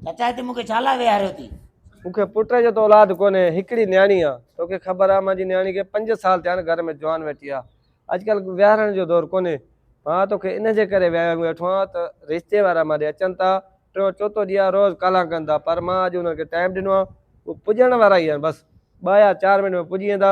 چچا هتي مون کي ڇا لاء ويهاريو ٿي؟ مون کي پٽ جو ته اولاد ڪونهي، هڪڙي نياڻي آ. توکي خبر آ منهنجي نياڻي کي پنج سال ٿيا آهن گهر ۾ جوان ويٺي آ. اڄڪلهه ويهارڻ جو دور ڪونهي. مان توکي ان جي ڪري ويهاريو ويٺو آهيان ته رشتي وارا مان ڏي اچن ٿا، ٽيون چوٿون ڏينهن آ روز ڪالا ڪن ٿا پر مان اڄ انهن کي ٽائيم ڏنو آ. هو پڄڻ وارا ئي آهن بس ٻه يا چار منٽ ۾ پڄي ويندا.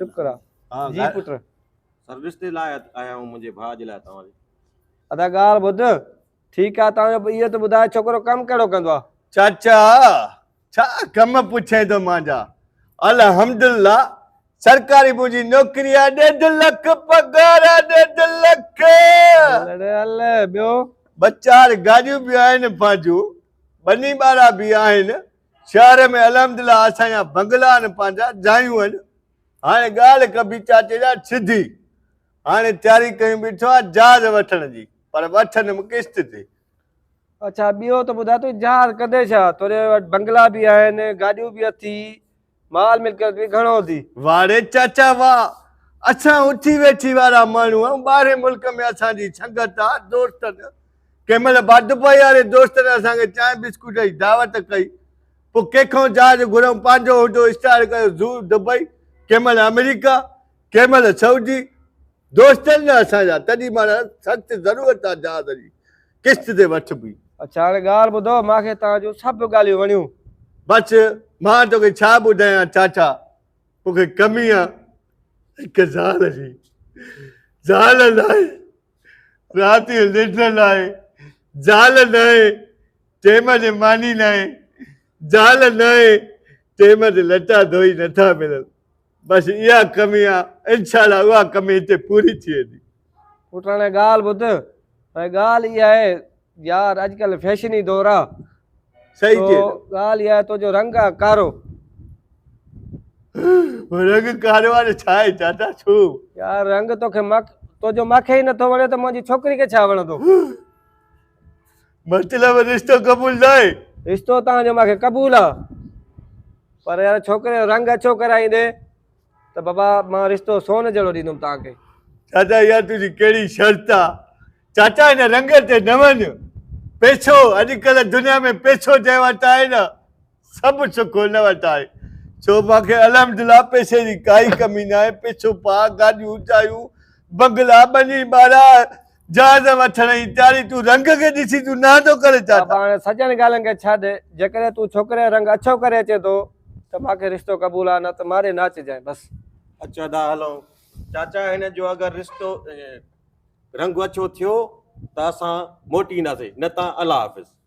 شڪر آ جي پٽ سروس تي لاء آيا آهيون منهنجي ڀاء جي لاء توهان ادا ڳالهه ٻڌ ٺيڪ آ توهان جو اهو ته ٻڌاء ڇوڪرو ڪم ڪهڙو ڪندو آ چاچا ڇا ڪم پڇين ٿو مانجا الحمدلله سرڪاري منهنجي نوڪري آ ڏيڍ لک پگهار آ ڏيڍ لک ٻيو ٻه چار گاڏيون به آهن پنهنجون ٻني ٻارا به آهن شهر ۾ الحمدلله اسان جا بنگلا آهن پنهنجا جايون آهن هاڻي ڳالهه ڪبي چاچي جان سڌي هاڻي تياري ڪيون بيٺو آهيان جهاز وٺڻ جي پر وٺندم قسط تي. اڇا ٻيو ته ٻڌاء تون جهاز ڪندين ڇا تنهنجي وٽ بنگلا به آهن گاڏيون به اٿئي مال ملڪيت به گهڻو هوندي. واڙي چاچا واهه، اسان اٿي ويٺي وارا ماڻهو آهيون، ٻاهرين ملڪ ۾ اسان جي سنگت آ، دوستن، ڪنهن مهل باڊپائي واري دوستن اسان کي چانهه بسڪوٽ جي دعوت ڪئي، پوء ڪنهن کان جهاز گهرئون، پنهنجو هوندو اسٽارٽ ڪيو زو دبئي، ڪنهن مهل آمريڪا، ڪنهن مهل سعودي، دوستن جا اسان جا، تڏهن مهارا سخت ضرورت آ جهاز جي، قسط تي وٺ بي. اڇا هاڻي ڳالهه ٻڌو مان کي توهان جون سڀ ڳالهيون وڻيون. بس مان توکي ڇا ٻڌايان چاچا مونکي ڪمي آ هڪ زال جي زال ناهي رات جو ننڊ ناهي زال ناهي ٽيم تي ماني ناهي زال ناهي ٽيم تي لٽا ڌوئي نٿا ملن بس اها ڪمي آ انشاء الله اها ڪمي هتي پوري ٿي ويندي. پٽاڻي ڳالهه ٻڌ ڀائي ڳالهه اها آهي يار اڄڪلهه فيشني دور آ صحيح چئي تو ڳالهه اها آهي تنهنجو رنگ آ ڪارو رنگ ڪارو آ ته ڇا آهي چاچا ڇو يار رنگ توکي مک تنهنجو مکي ئي نٿو وڻي ته منهنجي ڇوڪري کي ڇا وڻندو مطلب رشتو قبول ناهي رشتو تان جو ماکي قبول آ پر يار ڇوڪري جو رنگ اڇو ڪرائيندي ته بابا مان رشتو سون جهڙو ڏيندم تان کي چاچا يار تنهنجي ڪهڙي شرط آ چاچا هن رنگ تي نه وڃ پيڇو اڄڪلهه دنيا ۾ پيڇو جنهن وٽ آهي نه سڀ سک هن وٽ آهي، ڇو مان کي الحمدلله پئسي جي ڪائي ڪمي ناهي، پئسو پاء، گاڏيون اچايون، بنگلا، ٻني ٻارا، جهاز وٺڻ جي تياري، تون رنگ کي ڏسي تون نه ٿو ڪرين ڇا؟ بابا هاڻي سڄن ڳالهين کي ڇڏ، جيڪڏهن تون ڇوڪري جو رنگ اڇو ڪري اچين ٿو ته مان کي رشتو قبول آهي نه ته ماري نه اچجانء بس. اچ ادا هلون چاچا هن جو اگر رشتو رنگ اڇو ٿيو ته اسان موٽي اينداسين نه ته الله حافظ.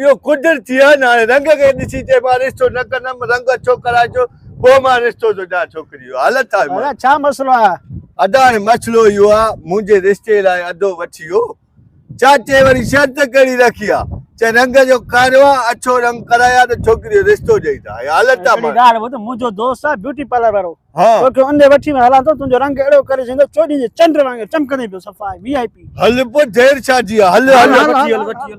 اهو قدرتي آهي نه هاڻي رنگ کي ڏسي چئي مان رشتو نه ڪندم رنگ اڇو ڪرائي جو پوء مان رشتو ٿو ڏيان ڇوڪري جو حالت آهي مان ادا ڇا مسئلو آهي ادا هاڻي مسئلو اهو آهي منهنجي رشتي لاء ادو وٺي ويو چاچي وري شرط ڪهڙي رکي آهي چئي رنگ جو ڪارو آهي اڇو رنگ ڪرائي آهي ته ڇوڪري جو رشتو ڏئي ٿا هي حالت آهي مان ڳالهه ٻڌ منهنجو دوست آهي بيوٽي پارلر وارو ها توکي اندي وٺي ۾ هلان ٿو تنهنجو رنگ اهڙو ڪري ڇڏيندو چوڏهين جي چنڊ وانگر چمڪندي پيو صفا وي آء پي هل پوء دير ڇا جي آهي هل هل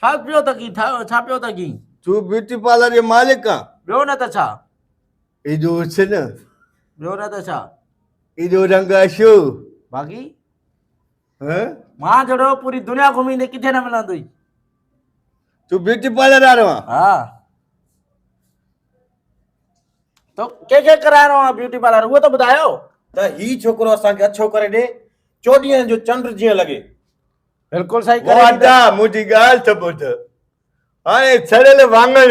ڇا پيو ٿا ڪين ڇا پيو ٿا ڪين تون بيوٽي پارلر جو مالڪ آ ٻيو نه ته ڇا ايجو حسن ٻيو نه ته ڇا ايجو رنگ اشو باقي ها مان جهڙو پوري دنيا گهميندي ڪٿي نه ملندوئي تون بيوٽي پارلر وارو آ ها تو ڪي کي ڪرائڻو آ بيوٽي پارلر اهو ته ٻڌايو ته هي ڇوڪرو اسان کي اڇو ڪري ڏي چوڏهين جو چنڊ جيئن لڳي بلڪل سائين ڪري ڏيندس. واڌا منهنجي ڳالهه ته ٻڌ. هاڻي سڙيل واڱڻ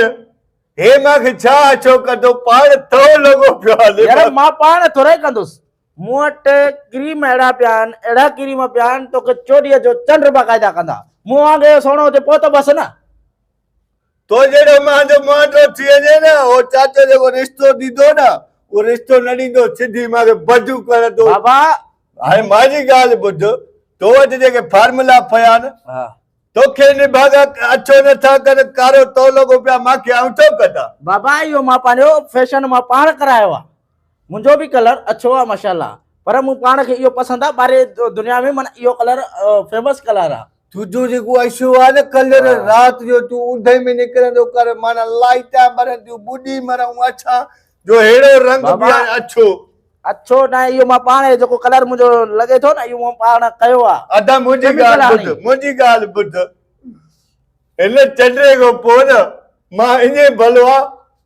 هي مان کي ڇا اڇو ڪندو پاڻ ٿهو لڳو پيو هلي. يار مان پاڻ ٿورائي ڪندس. مون وٽ ڪريم اهڙا پيا آهن اهڙا ڪريم پيا آهن توکي چوڏهينء جو چنڊ باقاعده ڪندا. مون وانگي سهڻو هجي پوء ته بس نه. تو جهڙو مان جو مانڊو ٿي وڃي نه اهو چاچو جيڪو رشتو ڏيندو نه اهو رشتو نه ڏيندو سڌي مان کي بجون ڪرندو. بابا! هاڻي مان جي ڳالهه ٻڌ تو وٽ جيڪي فارمولا پيا آهن توکي نڀاڳا اڇو نه ٿا ڪن ڪارو تو لڳو پيا مان کي آئون ڇو ڪڍان. بابا اهو مان پنهنجو فيشن مان پاڻ ڪرايو آهي منهنجو به ڪلر اڇو آهي ماشاءالله پر مون پاڻ کي اهو پسند آهي ٻاري دنيا ۾ معنيٰ اهو ڪلر فيمس ڪلر آهي. تنهنجو جيڪو اشو آهي نه ڪلر رات جو تون اوندهه ۾ نڪرندو ڪر معنيٰ لائيٽان ٻرنديون ٻڏي مرون اڇا جو ههڙو رنگ به هاڻي اڇو اڇو نه اهو مان پاڻ جيڪو ڪلر منهنجو لڳي ٿو نه اهو مان پاڻ ڪيو آ ادا منهنجي ڳالهه ٻڌ منهنجي ڳالهه ٻڌ هن چنڊي کان پوء نه مان اڃي ڀلو آ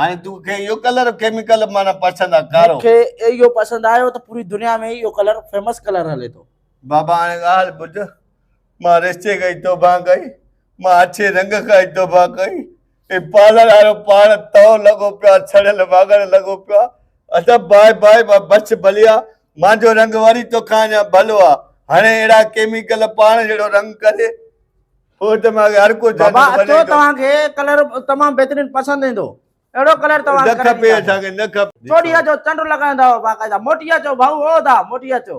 هاڻي تو کي اهو ڪلر ڪيميڪل معنی پسند آ ڪارو مون کي اهو پسند آيو ته پوري دنيا ۾ اهو ڪلر فيمس ڪلر هلي ٿو بابا هاڻي ڳالهه ٻڌ مان رشتي کان ئي توبه ڪئي مان اڇي رنگ کان ئي توبه ڪئي هي پارلر وارو پاڻ تئو لڳو پيو آ سڙيل واڳڻ لڳو پيو آ ادب باء باء مان بڇ ڀليا مانجو رنگ وري توکان اڃا ڀلو آ هاڻي اهڙا ڪيميڪل پاڻ جهڙو رنگ ڪري بابا اچو توهان کي ڪلر تمام بهترين پسند ايندو اهڙو ڪلر توهان کي نه کپي اسان کي نه کپي چوڏهينء جو چنڊ لڳائيندا هئا باقاعده موٽي اچو ڀائو او دا موٽي اچو